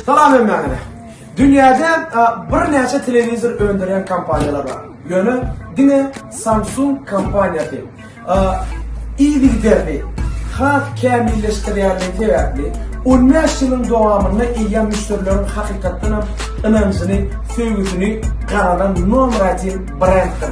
Salam hemmäňize. Dünýäde birnäçe telewizor öndürýän kompaniýalar bar. Ýöne diňe Samsung kompaniýasy yzygiderli has kämilleşdirýändigi sebäpli 15 ýylyň dowamynda eýýäm müşderileriň hakykatdan hem ynanjyny, söýgüsini gazanan nomer 1 brenddir.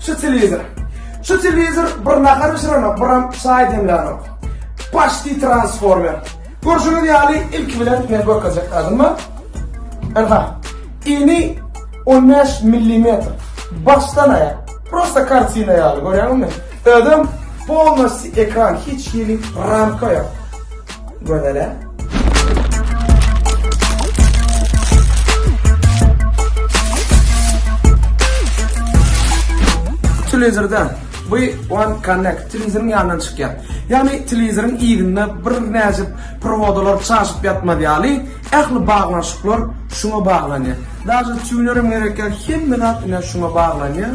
Şu telewizor. Şu telewizor bir nahar bişirenok, biram çaý demlänok. Paşti transformer. Görşüňiz ýaly ilki bilen men görkezjek zadyma. Aha. Ini 15 mm. Başdan aýak. Prosta kartina ýaly, görýäňizmi? Özem polnosti ekran hiç hili ramka yok. Gözele. Televizorda bu One Connect televizoryň ýanyndan çykýar. Ýagny televizoryň ýerinde bir näçe prowodalar çaşyp ýatmaz ýaly, ähli baglanyşyklar şuňa baglanýar. Daşy tuner hem gerek ýok, hemme zat ine şuňa baglanýar.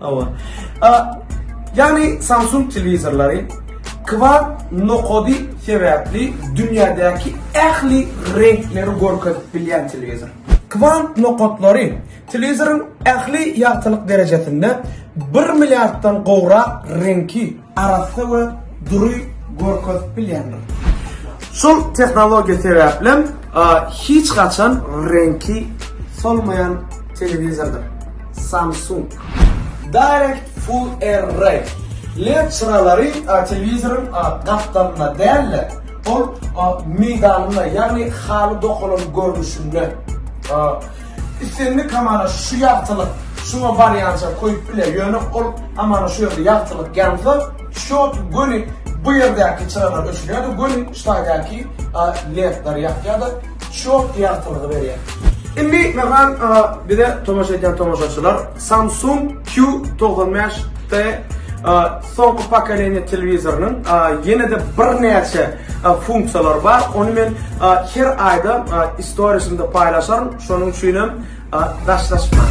Hawa. A, ýagny Samsung telewizorlary kwar nokady sebäpli dünýädäki ähli reňkleri görkezip bilýän telewizor. Kwar nokatlary telewizoryň ähli ýagtylyk derejesinde bir milliarddan gowrak reňki arassa we dury görkezip bilýändir. Şol tehnologiýa sebäplem hiç haçan reňki solmaýan telewizordyr. Samsung. Direct Full Array led çyralary telewizoryň gapdalynda däl-de, ol meýdanynda, ýagny haly dokalan görnüşinde. Islendik hamana şu ýagtylyk şuňa barýança koýup biler, ýöne ol hamana şu ýerde ýagtylyk ýansa, şot göni bu ýerdäki çyralar öçürýär-de, göni şu taýdaky ledleri ýakýar-da, şot ýagtylygy berýär. Indi, Mehran, bize tomaşa edýän tomaşaçylar. Samsung Q togsan bäş T soňky pokoleniýa telewizorynyň ýene-de birnäçe funksiýalary bar. Ony men her aýda storiesinde paýlaşaryn. Şonuň üçin hem daşlaşmaň.